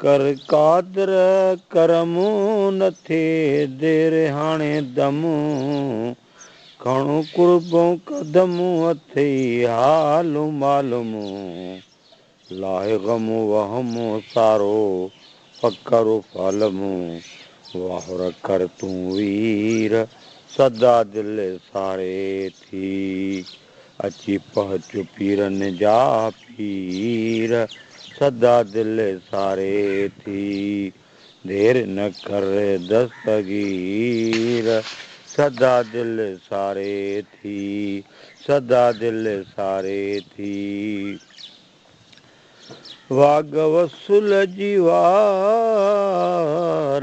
ڪر قادر ڪرم نه ٿئي دير هاڻي دم کڻ قربون قدم اٿئي حال معلوم لاء غم وهم سارو فقر فعلم وهر ڪر تون وير سدا دل ساري ٿي. اچي پهچ پيرن جا پير، سدا دل ساري ٿي. دير نه ڪر دستگير، سدا دل ساري ٿي. سدا دل ساري ٿي. واڳ وصل جي وار،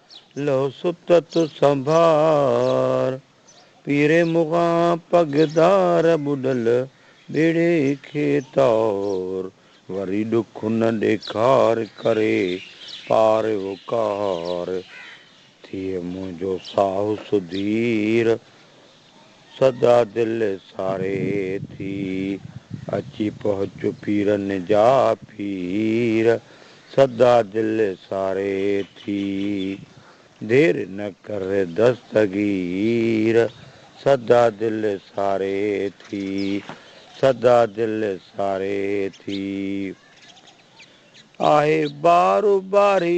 لئو ستت سنڀار، پير مغان پگدار ٻڏل ٻيڙي کي تار، وري ڏک نه ڏيکار ڪري پار وقار، ٿئي منهنجو ساهه سڌير. سدا دل ساري ٿي، اچي پهچ پيرن جا پير، سدا دل ساري ٿي، دير نه ڪر دستگير، سدا دل ساري ٿي، سدا دل ساري ٿي، آهي بار باري.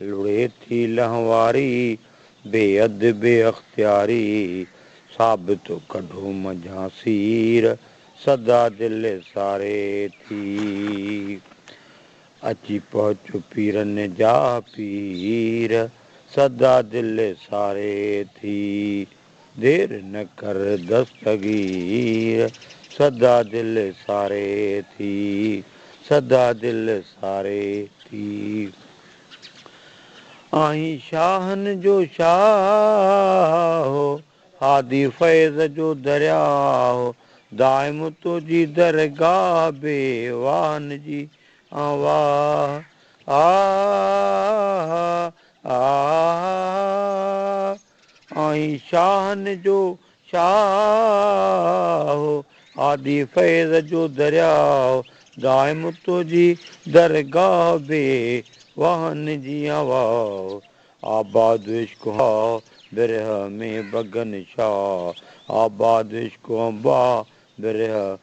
لڙي ٿي لهنواري، بي حد بي اختياري، ثابت ڪڍو منجهان سير، سدا دل ساري ٿي. اچي پهچو پيرن جا پير، سدا دل ساري ٿي. دير نه ڪر دستگير سدا دل ساري ٿي سدا دل ساري ٿي آهين شاهن جو شاهه هادي فيض جو درياه دائم تنهنجي درگاهه بي واهن جي آن واهه آهه آهه آهه آئين شاهن جو شاهه، آدي فيض جو درياء، دائم تنهنجي درگاهه، بي واهن جيان واء، آباد عشق هان برهه ۾، بگن شاهه، آباد عشق هان باهه، برهه